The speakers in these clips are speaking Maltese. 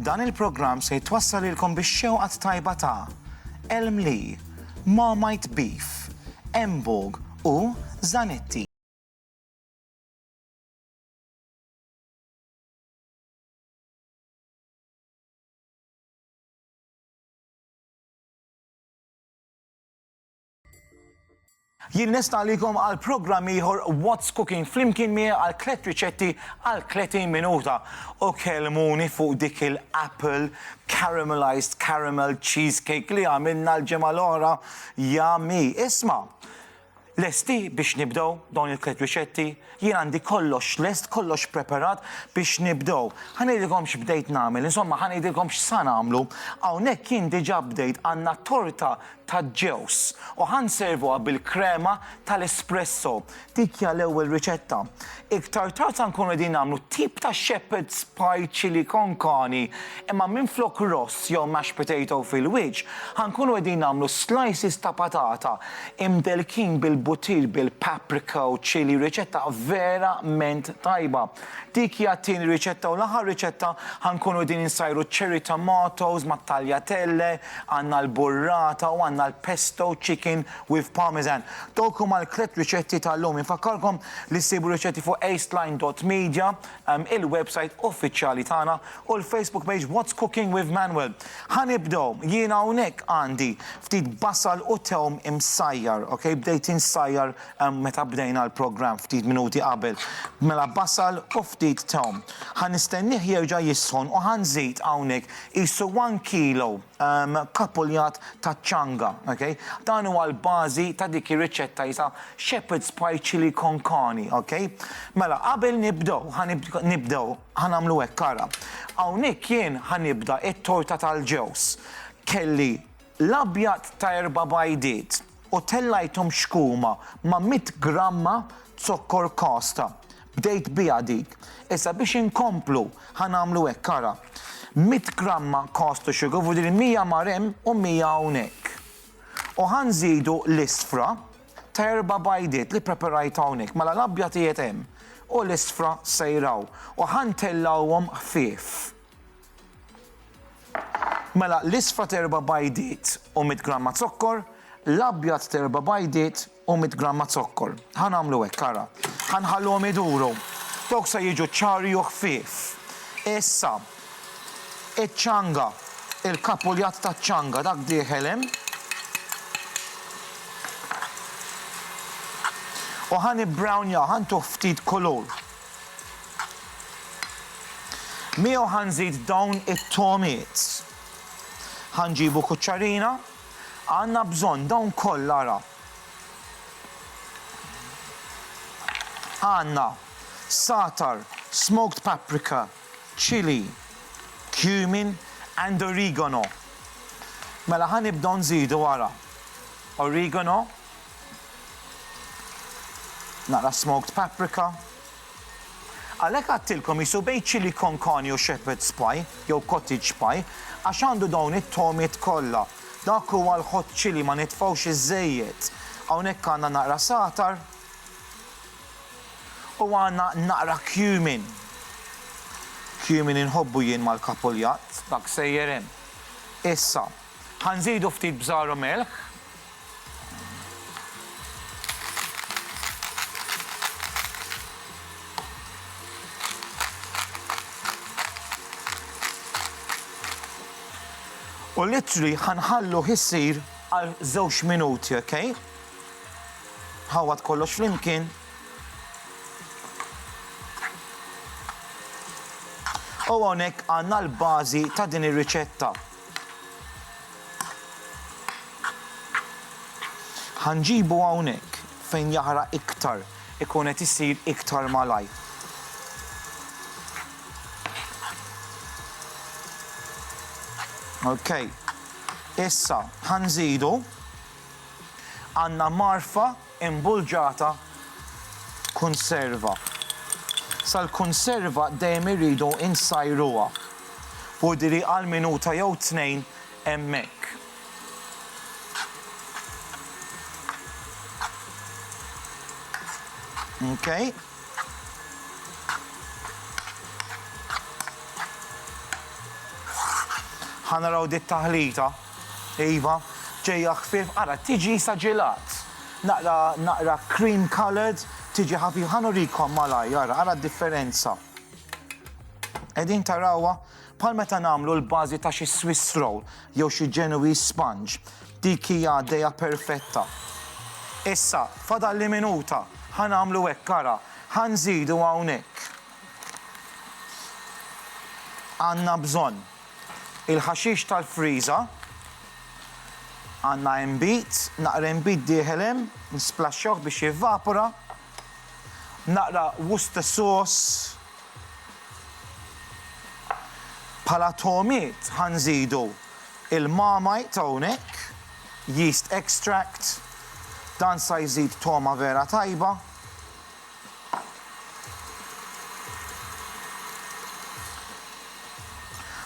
Dan il-programm se jitwassal ilkom biex xewqat tajba ta' Elm Lee, Marmite Beef, Embog u Zanetti. Jien nista' għalikom għal programm ieħor What's Cooking flimkien miegħi għal tliet riċetti għal 30 minuta u kelmuni fuq dik il-apple caramelized caramel cheesecake li għamilna l-ġimgħa l-oħra jami. Isma', Lesti biex nibdew dawn il-tliet riċetti? Jien għandi kollox lest, kollox preparat biex nibdew. Ħa ngħidilkom x'bdejt nagħmel, insomma ħa ngħidilkom x'sa nagħmlu. Hawnhekk jien diġà bdejt, għandna torta taġ-ġewż u ħa nservuha bil-krema tal-espresso. Dik hija l-ewwel riċetta. Iktar tard sa nkunu qegħdin nagħmlu tip ta' shepherd's pie chili con carne imma minflok ross jew mashed potato fil-wiċċ ħa nkunu qegħdin nagħmlu slices ta' patata imdellkin bil-butir bil-paprika u chilli riċetta vera ment tajba. Dik hija t-tieni riċetta u l-aħħar riċetta ħa nkunu qegħdin insajru ċ-cherry tomatoes mat-tagliatelle, għandna l-burrata u għandna l-pesto chicken with parmesan. Dawk huma l-tliet riċetti tal-lum. Infakkarkom li ssibu r-riċetti fuq acedline dot media, il-websajt uffiċjali tagħna, u l-Facebook page What's Cooking with Manuel. Ħa nibdew, jiena hawnhekk għandi ftit basal u tewm imsajjar, ok, bdejt insajjar meta bdejna l-programm ftit minuti qabel. Mela basal u ftit tewm. Ħa nistennieh jerġa' jisħon u ħa nżid hawnhekk qisu one kilo. kapuljat taċ-ċanga. Dan huwa l-bażi ta' dik ir-riċetta jisha Shepherd's Pie Chili con Carne. Mela qabel nibdew, ħa nibdew, ħa nagħmlu hekk ara. Hawnhekk jien ħa nibda t-torta tal-ġewż. Kelli l-abjad ta' erba' bajdiet, u tellajthom xkuma ma' mitt gramma zokkor kasta. Bdejt biha dik. Issa biex inkomplu ħa nagħmlu hekk, ara. Mitt gramma caster sugar vuol dire mija mar hemm u mija hawnhekk. U ħa nżidu l-isfra ta' erba' bajdiet li ppreperajt hawnhekk, mela l-abjad qiegħed hemm u l-isfra sejr hawn. U ħa ntellgħuhom ħfief. Mela, l-isfra t'erba' bajdiet u mitt gramma zokkor, l-abjad t'erba' bajdiet u mitt gramma zokkor. Ħa nagħmlu hekk, ara. Ħa nħalluhom iduru. Dawk se jiġu ċari u ħfief. Issa, iċ-ċanga, il-kapuljat taċ-ċanga, dak dieħel hemm. U ħa nibbrownjah, ħa ntuh ftit kulur. Miegħu ħa nżid dawn it-togħmiet. Ħa nġibu kuċċarina. Għandna bżonn dawn kollha ara. Għandna satar, smoked paprika, chili, cumin and oregano. Mela ħa nibdew nżidu ara. Oregano Naqra smoked paprika. Għalhekk għadtilkom qisu bejn chilli con carne u shepherd's pie jew cottage pie għax għandu dawn it-togħmiet kollha. Dak huwa l-hot chilli ma nitfgħux iż-żejjed. Hawnhekk għandna naqra sagħtar u għandna naqra cumin. Cumin inħobbu jien mal-kapuljatt. Dak sejjer hemm. Issa, Ħa nżidu ftit bżar u milħ. U l-ittri ħa nħalluh isir għal żewġ minuti, ok? Ħawad kollox flimkien. U hawnhekk għandna l-bażi ta' din ir-riċetta. Ħa nġibu hawnhekk fejn jaħraq iktar, ikun qed isir iktar malajr. Ok, issa ħa nżidu għandna marfa Imbulġata Kunserva Sal-kunserva dejjem irridu nsajruha. Pudri għal minuta jew tnejn hemmhekk. Okay. Ħa naraw dit-taħlita. Iva, ġejja ħfief, ara tiġi sa ġilat. Naqra naqra cream coloured, tiġi ħafifa. Ħa nurikom malajr, ara, ara d-differenza. Qegħdin tarawha? Bħal meta nagħmlu l-bażi ta' xi Swiss roll jew xi Genoese sponge. Dik hija għaddejja perfetta. Issa, fadalli minuta, ħa nagħmlu hekk, ara. Ħa nżidu hawnhekk. Għandna bżonn. Il-ħaxix tal-friża għandna inbid, naqra inbid dieħel hemm, nisplaxxawh biex jevvapora, naqra Worcester sauce, bħala togħmiet ħa nżidu il-Marmite hawnhekk, yeast extract, dan sa jżid togħma vera tajba.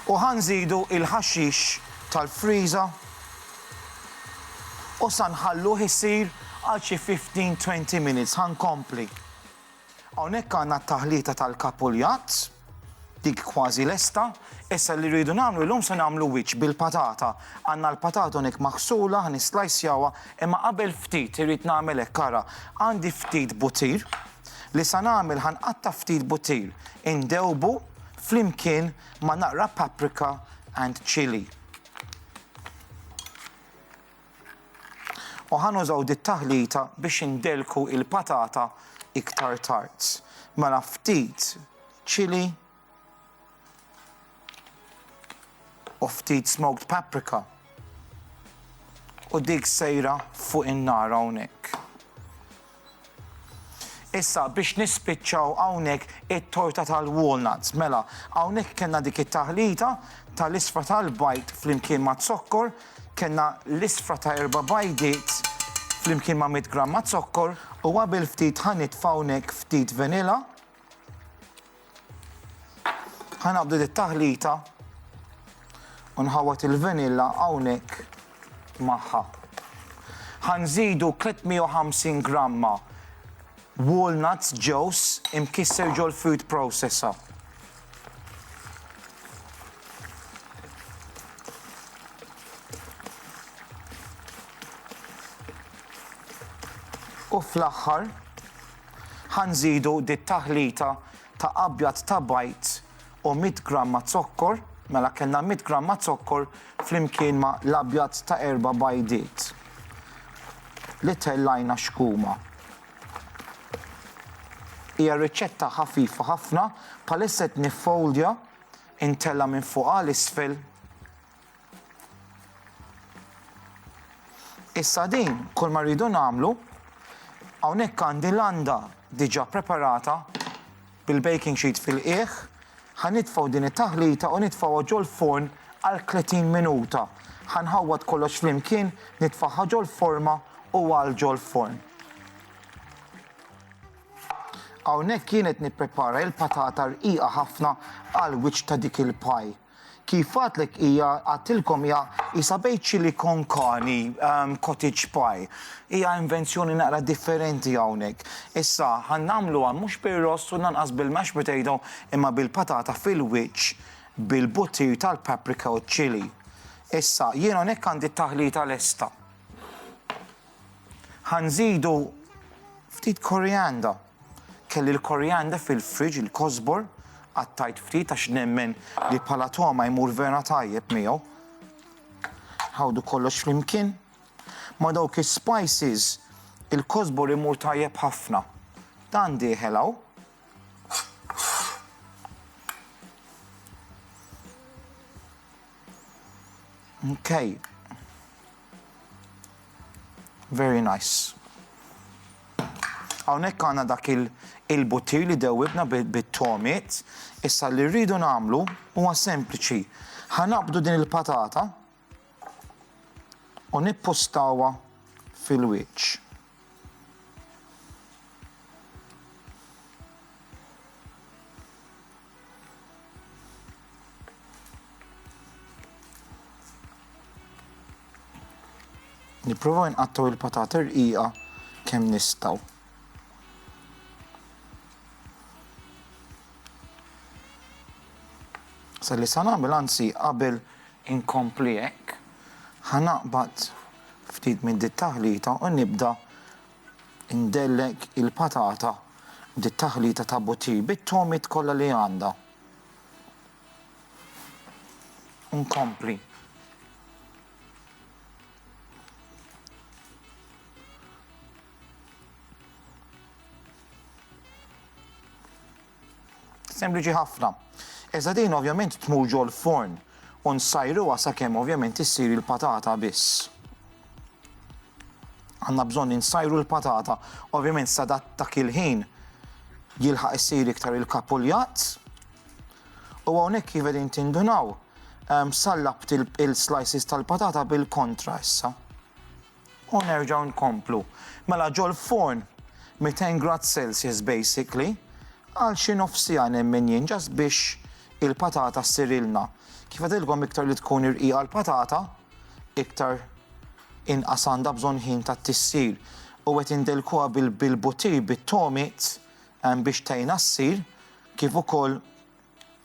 U ħa nżidu l-ħaxix tal-friża u sa nħalluh isir għal xi fifteen, twenty minutes. Ħa nkompli. Hawnhekk għandna t-taħlita tal-kapuljat. Dik kważi lesta. Issa li rridu nagħmlu llum se nagħmlu wiċċ bil-patata. Għandna l-patata hawnhekk maħsula, ħa nislajsjawha, imma qabel ftit irrid nagħmel hekk ara. Għandi ftit butir, li sa nagħmel ħa nqatta' ftit butir, indewbu flimkien ma' naqra paprika and chilli. U ħa nużaw dit-taħlita biex indellku l-patata iktar tard. Mela ftit chili u ftit smoked paprika. U dik sejra fuq in-nar hawnhekk. Issa biex nispiċċaw hawnhekk it-torta tal-walnuts. Mela, hawnhekk kellna dik it-taħlita tal-isfra tal-bajd flimkien ma' zokkor, kellna l-isfra ta' erba' bajdiet flimkien ma' 100 gramma zokkor u qabel ftit ħa nitfa' hawnhekk ftit vanilla. Ħanabdu dit-taħlita u nħawwat il-vanilla hawnhekk magħha. Ħanżidu 350 gramma walnuts ġews imkisser ġol food processor. U fl-aħħar Ħa nżidu dit-taħlita ta' abjad ta' bajd u mitt gramma zokkor, mela kellna mitt gramma zokkor flimkien ma' l-abjad ta' erba' bajdiet li tellajna xkuma. Hija riċetta ħafifa ħafna, bħalissa qed niffoldja, intella' minn fuq għal isfel. Issa din, kull ma rridu nagħmlu, hawnhekk għandi landa diġà preparata bil-baking sheet fil-qiegħ, ħanitfgħu din it-taħlita u nitfgħuha ġol forn għal 30 minuta. Ħanħawwad kollox flimkien, nitfgħaha ġol forma u għal ġol forn. Hawnhekk kienet nipprepara il-patata rqiqa ħafna għal wiċċ ta' dik il-paj. Kif għadtlek hija għadtilkom hija isa bejt chili con carne, um, cottage pie. Hija invenzjoni naqra differenti hawnhekk. Issa ħan nagħmluha mhux bir-ross u lanqas bil-mashed potato imma bil-patata fil-wiċċ bil-buttir tal-paprika u ċ-chili. Issa jien hawnhekk għandi t-taħlita lesta. Ħa nżidu ftit korianda. Kelli l-korianda fil-fridge, il-kosbor, qattajt ftit għax nemmen li bħala togħma jmur vera tajjeb miegħu. Ħawdu kollox flimkien. Ma' dawk is-spices il-kosbor imur tajjeb ħafna. Dan dieħel hawn. Okay. Very nice. Hawnhekk għandna dak il-butir li dewwibna bit-tomiet, issa li rridu nagħmlu huwa sempliċi. Ħanabdu din il-patata u nippustawa fil-wiċċ. Nipprova nqattaw il-patata rqiqa kemm nistgħu. Sa li sa nagħmel anzi qabel inkompli hekk ħanaqbad ftit minn dit-taħlita u nibda ndellek il-patata b'dit-taħlita ta' butir bit-togħmiet kollha li għandha. U nkompli. Sempliċi ħafna. Iżda din ovvjament tmur ġol forn u nsajruha sakemm ovvjament issir il-patata biss. Għandna bżonn insajru l-patata, ovvjament sadat ta' kilħin jilħaq issir iktar il-kapuljat. U hawnhekk kif qegħdin tindunaw, ehm, sallabt il-slices tal-patata bil-kontra issa. U nerġgħu nkomplu. Mela ġol-forn 200 grad Celsius basically għal xi nofs siegħa nemmen jien just biex il-patata ssirilna. Kif għedtilkom iktar li tkun irqiqa l-patata iktar inqas għandha bżonn ħin ta' tissir. U qed indelkuha bil-butir bit-tomit biex tgħinha ssir kif ukoll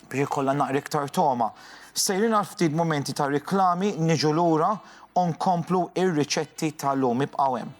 biex ikollha naqra iktar togħma. Sejrin għal ftit mumenti ta' riklami, niġu lura u nkomplu ir-riċetti ta' llum. Ibqgħu hemm.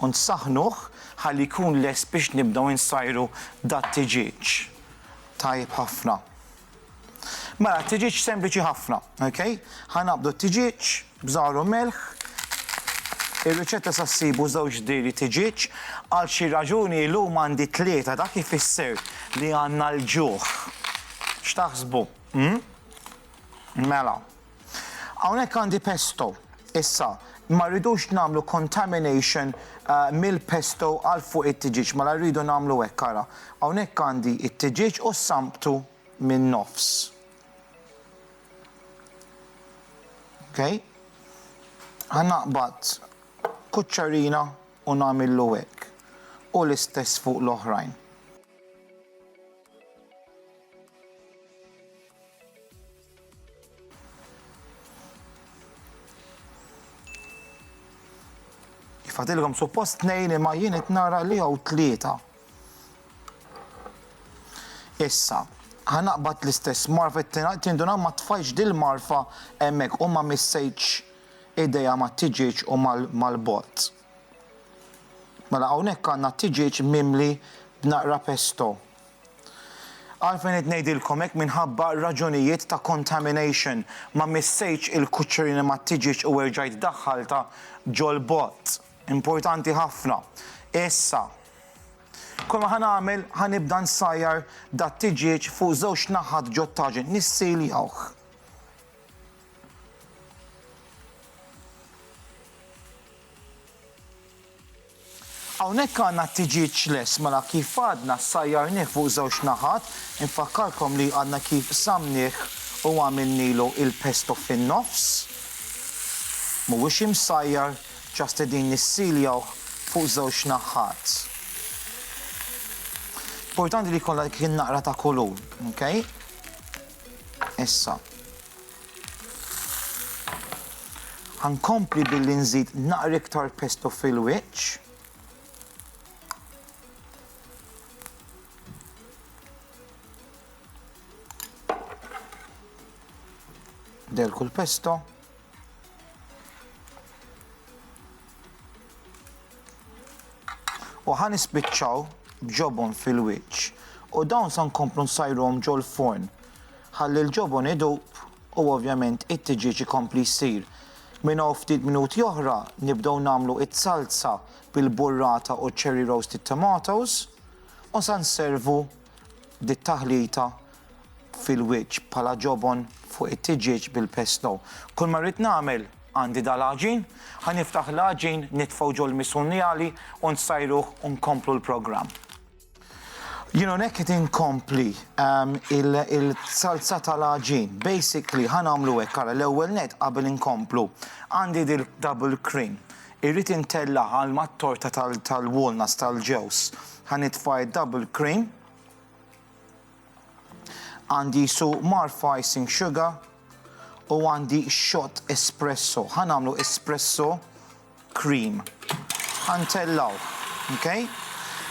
u nsaħħnuh ħalli jkun lest biex nibdew insajru dat-tiġieġ. Tajjeb ħafna. Mela t-tiġieġ sempliċi ħafna, ok? Ħa naqbdu t-tiġieġ b'żahar u melħ. Ir-riċetta sa ssibu żewġ diri tiġieġ. Għal xi raġuni illum għandi tlieta dak ifisser li għandna l-ġuħ. X'taħsbu? Mela. Hawnhekk għandi pesto. Issa, ma rridux nagħmlu contamination mill-pesto għal fuq it-tiġieġ, mela rridu nagħmlu hekk ara. Hawnhekk għandi t-tiġieġ u s-samptu min-nofs. Okay? Ħa naqbad kuċċarina u nagħmillu hekk u l-istess fuq l-oħrajn. Fadilkom suppost tnejn imma jien qed nara li hawn tlieta. Issa, ħanaqbad l-istess marfa tinduna ma tfajx dil-marfa hemmhekk u ma missejtx ideja ma tiġiġ u mal-bot. Mela hawnhekk għandna tiġiġ mimli b'naqra pesto. Għalfejn qed ngħidilkom hekk minħabba raġunijiet ta' contamination. Ma missejtx il-kuċċerina mat-tiġieġ u erġajt daħħaltha ġol-bott. Importanti ħafna. Issa. Kull ma ħa nagħmel ħa nibda nsajjar dat-tiġieġ fuq żewġ naħat ġot-taġin. Nissiljawh. Hawnhekk għandna t-tiġieġ lest mela kif għadna ssajjarnih fuq żewġ naħat, infakkarkom li għadna kif qsamnih u għamilnilu il-pesto fin-nofs, mhuwiex imsajjar just qegħdin nissiljawh fuq żewġ naħat. Importanti li jkollha dik in-naqra ta' kulur, ok? Issa. Ħa nkompli billi nżid naqra iktar pesto fil-wiċċ. Delku l-pesto. U ħa nispiċċaw b'ġobon fil-wiċċ u dawn sa nkomplu nsajruhom ġol-forn ħalli l-ġobon idub u ovvjament it-tiġieġ ikompli jsir. Minn hawn ftit minuti oħra nibdew nagħmlu t-salza bil-burrata u ċ-cherry roasted tomatoes u sa nservu dit-taħlita fil-wiċċ bħala ġobon fuq it-tiġieġ bil-pesto. Kull ma rrid nagħmel, għandi dal-għaġin, ħa niftaħ l-għaġin, nitfgħu ġol-misunjali u nsajruh u nkomplu l-programm. Jien hawnhekk qed inkompli ehm, il-salza tal-għaġin. Basically ħa nagħmlu hekk ara l-ewwel net qabel inkomplu. Għandi dil-double cream. Irrid intella' għal mat-torta tal-walnuts tal-ġewż. Ħa nitfa' d-double cream. Għandi jsuq mgħarrfa icing sugar u għandi shot espresso. Ħa nagħmlu espresso cream. Ħa ntellgħu. Ok?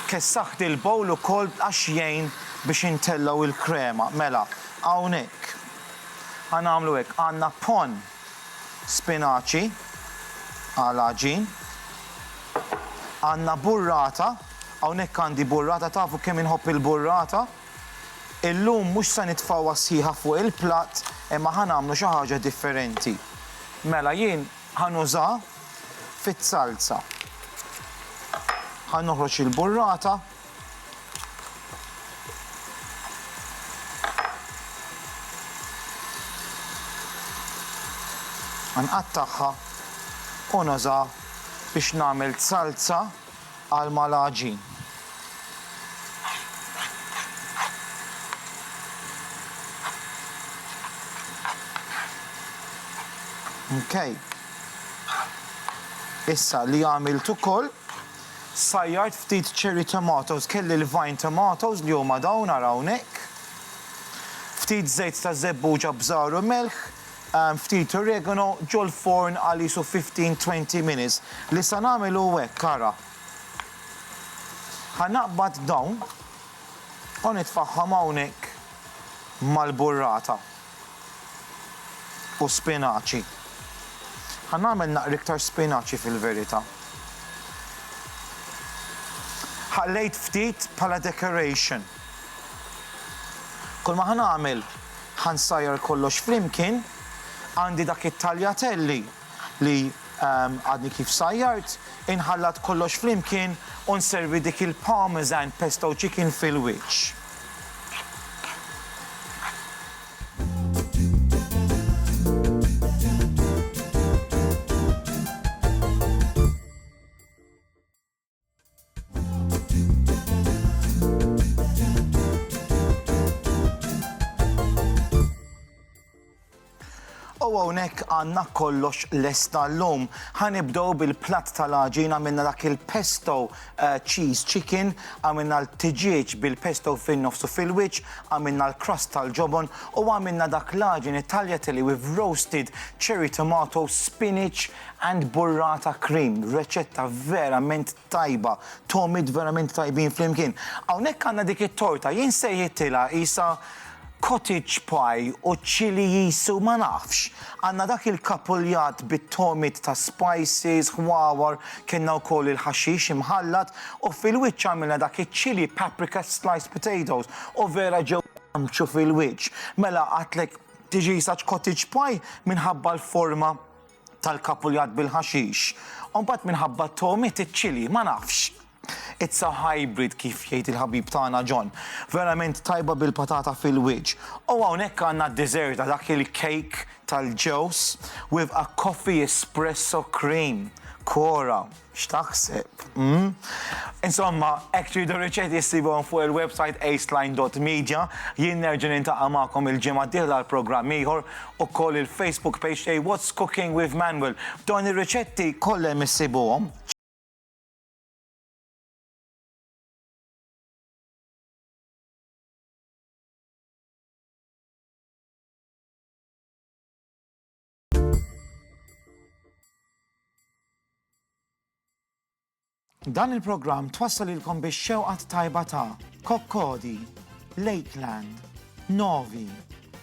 Kessaħt il-bowl ukoll għax jgħin biex intellgħu l-krema. Mela, hawnhekk. Ħa nagħmlu hekk. Għandna pan Spinaċi għal għaġin. Għandna burrata, hawnhekk għandi burrata tafu kemm inħobb il-burrata. Illum mhux se nitfgħuha sħiħa fuq il-platt imma ħa nagħmlu xi ħaġa differenti. Mela jien ħa nużaha fiz-zalza. Ħa noħroġ il-burrata. Nqattagħha u nuża biex nagħmel salza għal mal-għaġin. Okay. Issa li għamilt ukoll Sajjart ftit cherry tomatoes, kelli l-vine tomatoes li huma dawn ara hawnhekk. Ftit żejt ta' żebbuġa bżar u melħ, ftit oregano, ġol-forn għal qisu fifteen, twenty minutes. Li sa nagħmel hu hekk, ara. Ħa naqbad dawn u nitfagħhom hawnhekk mal-burrata. u spinaċi. Ħa nagħmel naqra iktar spinaċi fil-verità. Ħallejt ftit bħala decoration. Kulma ħa nagħmel, ħa nsajjar kollox flimkien, għandi dak it-taljatelli li għadni kif sajjart, inħallat kollox flimkien u nservi dik il-Parmesan Pesto Chicken fil-wiċċ. U hawnhekk għandna kollox lesta llum. Ħanibdew bil-platt tal-għaġin għamilna dak il-pesto eh, cheese chicken, għamilna l-tiġieġ bil-pesto fin-nofsu fil-wiċċ, għamilna l-crust tal-ġobon u għamilna dak l-għaġin it-tagliatelle with roasted cherry tomato, spinach, And burrata cream, reċetta verament tajba, togħmiet verament tajbin flimkien. Hawnhekk għandna dik it-torta, jien sejħittilha qisha cottage pie u chilli cheese u ma nafx. Għandna dak il-kapuljat bit-togħmiet ta' spices, ħwawar, kellna wkoll il-ħaxix imħallat u fil-wiċċ għamilna dak iċ-chilli paprika sliced potatoes u vera ġew jgħammċu fil-wiċċ. Mela għidtlek tiġi qisha cottage pie minħabba l-forma tal-kapuljat bil-ħaxix, u mbagħad minħabba t-togħmiet iċ-ċili, ma nafx. It's a hybrid kif jgħid il-ħabib tagħna John. Verament tajba bil-patata fil-wiċċ. U hawnhekk għandna d-dessert ta' dak il-cake tal-ġewż with a coffee espresso cream. Kora! X'taħseb? Mm? Insomma, hekk tridu riċetti ssibhom fuq il-website aceline.media. Jien nerġa' nintaqa' magħkom il-ġimgħa d-dieħla għal programm ieħor ukoll il-Facebook page tiegħi What's Cooking with Manuel. Dawn ir-riċetti kollha hemm issibuhom. Dan il-programm twassal ilkom biex xewqat tajba ta' Kokkodi, Lakeland, Novi,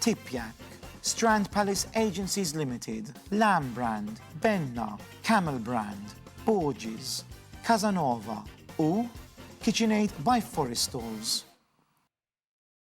Tipjak, Strand Palace Agencies Limited, Lamb Brand, Benna, Camel Brand, Borges, Casanova u KitchenAid by Forest Tools.